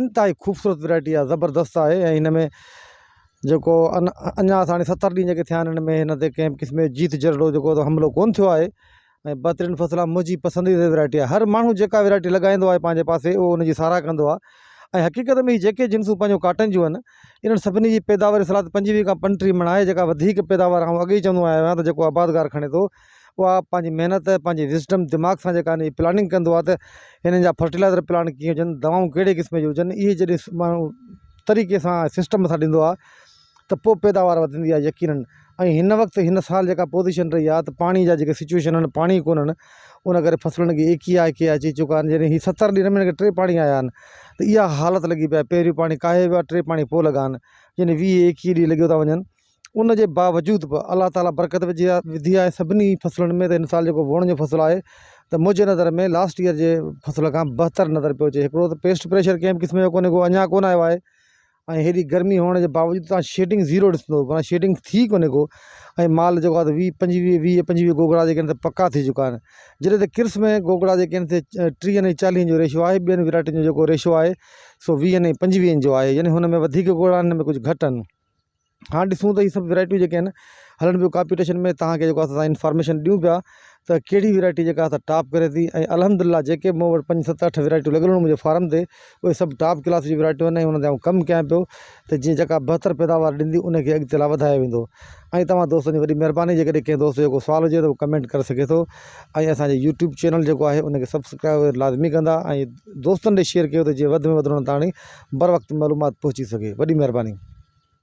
انتهائي خوبصورت ويرائٽي آهي زبردست آهي ۽ هن ۾ جيڪو ان اڃا اسان ڏي ستر ڏينهن جيڪي ٿيا آهن ان ۾ نتي ڪنهن قسم جو جيت جهرڙو جيڪو تو حملو ڪون ٿيو آهي ۽ بهترين فصل آهي منهنجي پسنديده ويرائٽي آهي هر ماڻهو جيڪا ويرائٽي لڳائيندو آهي پنهنجي پاسي اهو ان جي ساراهه ڪندو آهي ۽ حقيقت ۾ هي جيڪي جنسون پنهنجو ڪاٽن جون آهن انهن سڀني جي پيداواري صلاحيت پنجويهه کان پنٽيهه مڻ آهي جيڪا وڌيڪ پيداوار آئون اڳ ئي چوندو آيو آهيان ته جيڪو آبادگار کڻي ٿو اها پنهنجي محنت پنهنجي وزڊم دماغ سان جيڪا هي پلاننگ ڪندو آهي ته هنن جا فرٽيلائزر پلانٽ ڪيئن هجن دوائون ڪهڙي قسم جون هجن اهي جڏهن ماڻهو طريقي سان سسٽم سان ڏيندو آهي ته پوء پيداوار وڌندي آهي يقينن ۽ هن وقت هن سال جيڪا پوزيشن رهي آهي ته پاڻي جا جيڪي سچويشن آهن پاڻي ڪونهن ان ڪري فصلن کي ايڪ ئي آء ڪي آء چئي چڪا آهن جڏهن هي ستر ڏينهن ۾ ٽي پاڻي آيا آهن ته اها حالت لڳي پئي آهي پهريون پاڻي ڪاهي ويو آهي ٽي پاڻي پوء لڳا آهن يعني ويهه ايڪيهه ڏينهن لڳيو ٿا وڃن ان جي باوجود به الله تعاليٰ برڪت وجهي آ وڌي آهي سڀني فصلن ۾ هن سال جيڪو ووڻ جو فصل آهي ته منهنجي نظر ۾ لاسٽ ايئر جي فصل کان بهتر نظر پيو اچي هڪڙو ته پيسٽ پريشر ڪنهن به قسم جو ڪونهي ڪو اڃا ڪونه آيو آهي ۽ هيڏي گرمي هئڻ جي باوجود تان شيڊنگ زيرو ڏسندو معنيٰ شيڊنگ ٿي ڪونهي ڪو ۽ مال جيڪو آهي ويهه پنجويهه ويهه پنجويهه گوگڙا جيڪي آهن پڪا ٿي چڪا آهن جڏهن ته ڪرس ۾ گوگڙا جيڪي آهن سي ٽيهن ۽ چاليهن جو ريشو آهي ٻين ويرائٽين جو جيڪو ريشو آهي سو ويهن ۽ پنجويهن جو آهي يعني هن ۾ وڌيڪ ڳوڙها آهن هن ۾ ڪجهه گهٽ آهن هاڻ ڏسون ته هي سڀ ويرائٽيون جيڪي آهن هلن ٻيو ڪاپيٽيشن ۾ تهانکي جيڪو اسان انفارميشن ڏيون پيا ته ڪهڙي ويرائٽي جيڪا آهي سا ٽاپ ڪري ٿي ۽ الحمدلله جيڪي مون وٽ پنج ست اٺ ويرائٽيون لڳل هيون منهنجي فارم تي اهي سڀ ٽاپ ڪلاس جي ويرائٽيون آهن ۽ انهن تي آئون ڪم ڪيان پيو ته جيئن جيڪا بهتر پيداوار ڏيندي انکي اڳتي لاء وڌايو ويندو ۽ توهان دوستن جي وڏي مهرباني جيڪڏهن ڪنهن دوست جو ڪو سوال هجي ته هو ڪمينٽ ڪري سگهي ٿو ۽ اسانجي يوٽيوب چينل جيڪو آهي انکي سبسڪرائب لازمي ڪندا ۽ دوستن ڏي شيئر ڪيو ته جيئن وڌ ۾ وڌ انهن تائڻي بر وقت معلومات پهچي سگهي وڏي مهرباني